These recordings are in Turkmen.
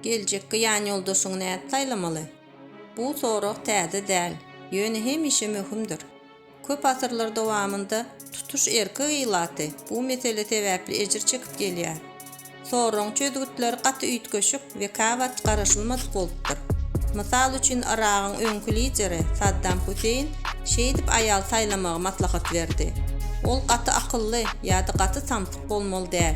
Geljekki ýanýoldaşyňy nädip saýlamaly? Bu sorag täze däl, ýöne hemişe möhümdir. Köp asyrlar dowamynda tutuş erkek ilaty bu mesele sebäpli ejir çekip gelýär. Soragyň çözgütleri gaty üýtgeşik we käwagt garaşylmadyk bolupdyr. Mysal üçin, Yragyň öňki lideri Saddam Huseýn şeýdip aýal saýlamagy maslahat berdi, Ol gaty akylly ýa-da gaty samsyk bolmaly däl.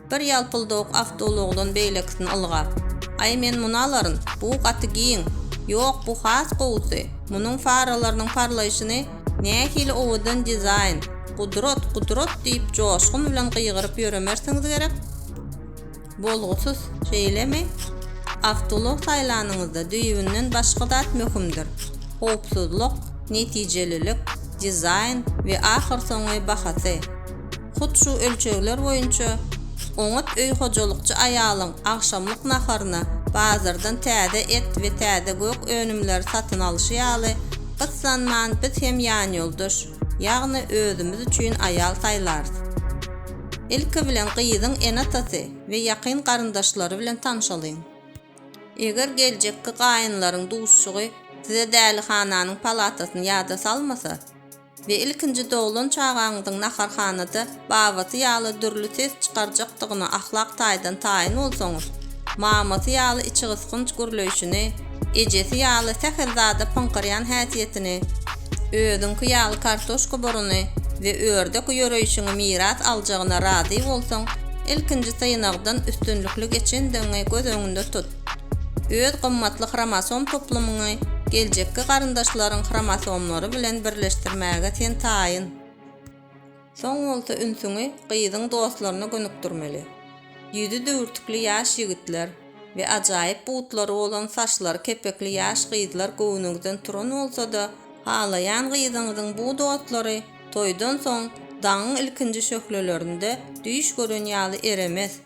Bir ýalpyldawuk awtoulagdan beýlekisini ylgap, Aý, men muny alaryn, bu gaty giň. Ýok, bu has gowusy. Munuň faralarynyň parlaýşyny, nähili owadan dizaýn! Gudrat, gudrat! diýip, joşgun bilen gygyryp ýöremersiňiz gerek. Bolgusyz, şeýlemi? Awtoulag saýlanyňyzda düýbünden başga zat möhümdir, howpsuzlyk, netijelilik, dizaýn we ahyrsoňy bahasy. Hut şu ölçegler boýunça oňat öý hojalykçy aýalyň agşamlyk naharyna bazardan täze et we täze gök önümleri satyn alşy ýaly, gyssanman biz hem ýanýoldaş, ýagny özümiz üçin aýal saýlarys. Ilki bilen gyzyň ene-atasy we ýakyn garyndaşlary bilen tanşalyň. Eger geljekki gaýynlaryň duşuşygy size dälihananyň palatasyny ýada salmasa, we ilkinji doglan çagaňyzyň naharhanada babasy ýaly dürli ses çykarjakdygyna ahlak taýdan taýyn bolsaňyz, mamasy ýaly içigysgynç gürleýşini, ejesi ýaly sähel zada pyňkyrýan häsiýetini, özüňki ýaly kartoşka buruny we ördek ýöreýşiňi miras aljagyna razy bolsaň, ilkinji synagdan üstünlikli geçendigiňi göz öňünde tut. Öz gymmatly hromosom toplumyňy geljekki garyndaşlaryň hromosomlary bilen birleşdirmäge sen taýyn. Soň bolsa ünsüňi gyzyň dostlaryna gönükdirmeli. Ýüzi düwürtikli ýaş ýigitler we ajaýyp butlary bolan saçlary kepekli ýaş gyzlar göwnüňizden turan bolsa-da, halaýan gyzyňyzyň bu dostlary toýdan soň daňyň ilkinji şöhlelerinde düýş gören ýaly eremez.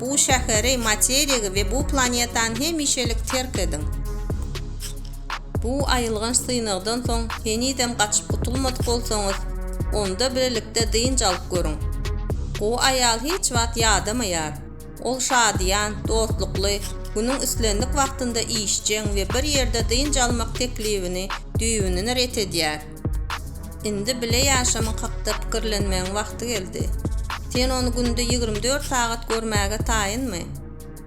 Bu şäheri, materigi we bu planetany hemişelik terk ediň. Bu aýylganç synagdan soň henizem gaçyp gutulmadyk bolsaňyz, onda bilelikde dynç alyp görüň. Gowy aýal hiç wagt ýadamaýar. Ol şadyýan, dostlukly, günüň islendik wagtynda işjeň we bir ýerde dynç almak teklibini düýbünden ret edýär. Indi bile ýaşamyň hakda pikirlenmegiň wagty geldi. Sen ony günde ýigrimi dört sagat görmäge taýynmy?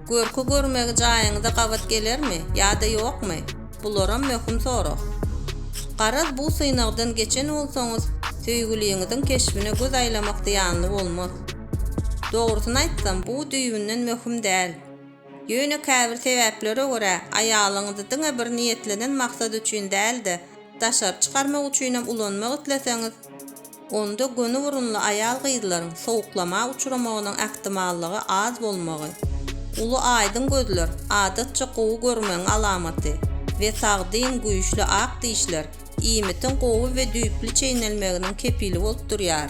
Görki görmegi jaýyňyza gabat gelermi ýa-da ýokmy? Bularam möhüm sorag. Garaz bu synagdan geçen bolsaňyz, söýgüliňiziň keşbine göz aýlamak zyýanly bolmaz. Dogrusyny aýtsam, bu düýbünden möhüm däl. Ýöne käbir sebäplere görä, aýalyňyzy diňe bir niýetlenen maksat üçin däl-de, daşary çykarmak üçinem ulanmak isleseňiz, onda göni burunly aýal-gyzlaryň sowuklama uçramagynyň ähtimallygy az bolmagy, uly aýdyň gözler, adatça gowy görmegiň alamaty, we sagdyn, güýçli ak dişler, iýmitiň gowy we düýpli çeýnelmeginiň kepili bolup durýar.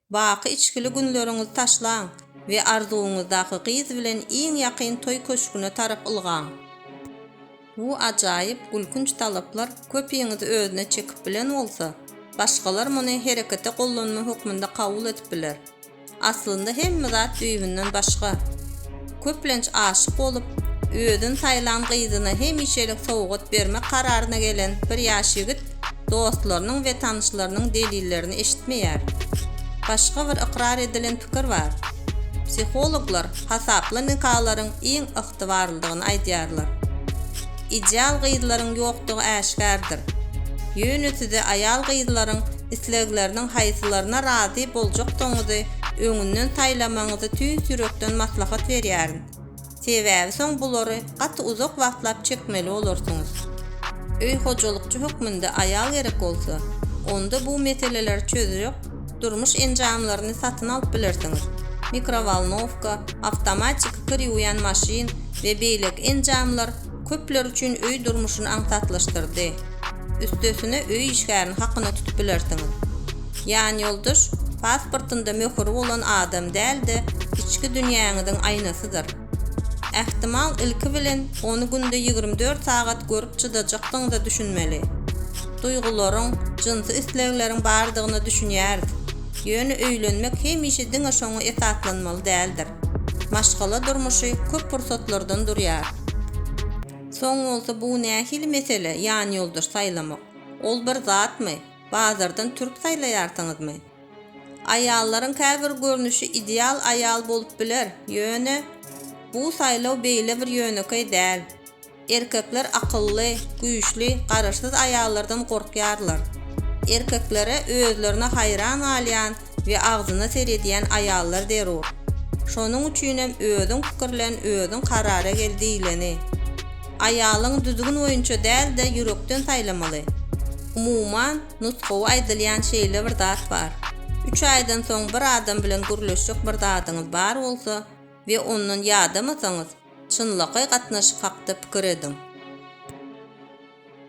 Baky içgili günleriňizi taşlaň we arzuwyňyzdaky gyz bilen iň ýakyn toý köşgüne tarap ylgaň. Bu ajaýyp, gülkünç talaplar köpiňizi özüne çekip bilen bolsa, başgalar muny herekete gollanma hökmünde kabul edip biler. Aslynda hemme zat düýbünden başga. köplenç aşyk bolup, özüni saýlan gyzyna hemişelik sowgat bermek kararyna gelen bir ýaş ýigit dostlarynyň we tanyşlarynyň delillerini eşitmeýär. Başga bir ykrar edilen pikir bar. Psihologlar hasaply nikalaryň iň ygtybarlydygyny aýdýarlar. ideal gyzlaryň ýokdugy äşgärdir. Ýöne size aýal-gyzlaryň islegleriniň haýsylaryna razy boljakdygyňyzy öňünden saýlamagyňyzy tüýs ýürekden maslahat berýärin. Sebäbi soň bulary gaty uzak wagtlap çekmeli bolarsyňyz. Öý hojalykçy hökmünde aýal gerek bolsa, onda bu meseleleri çözjek durmuş enjamlaryny satyn alyp bilersiňiz, mikrowolnowka, awtomatiki kir ýuwýan maşyn we beýleki enjamlar köpler üçin öý durmuşyny aňsatlaşdyrdy. Üstesine öý işgärini hakyna tutup bilersiňiz. Ýanýoldaş pasportynda möhüri bolan adam däl-de, içki dünýäňiziň aýnasydyr. Ähtimal, ilki bilen, ony günde ýigrimi dört sagat görüp çydajakdygyňyza düşünmeli. Duýgularyň, jynsy islegleriň bardygyna düşünýäris. Ýöne öýlenmek hemişe diňe şoňa esaslanmaly däldir. Maşgala durmuşy köp pursatlardan durýar. Soň bolsa bu nähili mesele, ýanýoldaş saýlamak? Ol bir zatmy? Bazardan türk saýlaýarsyňyzmy? Aýallaryň käbir görnüşi ideal aýal bolup biler, ýöne bu saýlaw beýle bir ýönekeý däl. Erkekler akylly, güýçli, garaşsyz aýallardan gorkýarlar. Erkeklere özlerine haýran galýan we agzyna seredýän aýallar zerur. Şonuň üçinem özüň pikirlen, özüň karara gel diýleni. Aýalyňy düzgün boýunça däl-de ýürekden saýlamaly. Umuman, Nusgawy aýdylýan şeýle bir zat bar. Üç aýdan soň bir adam bilen gürleşjek bir zadyňyz bar bolsa we ondan ýadamasaňyz, çynlakaý gatnaşyk hakda pikir ediň.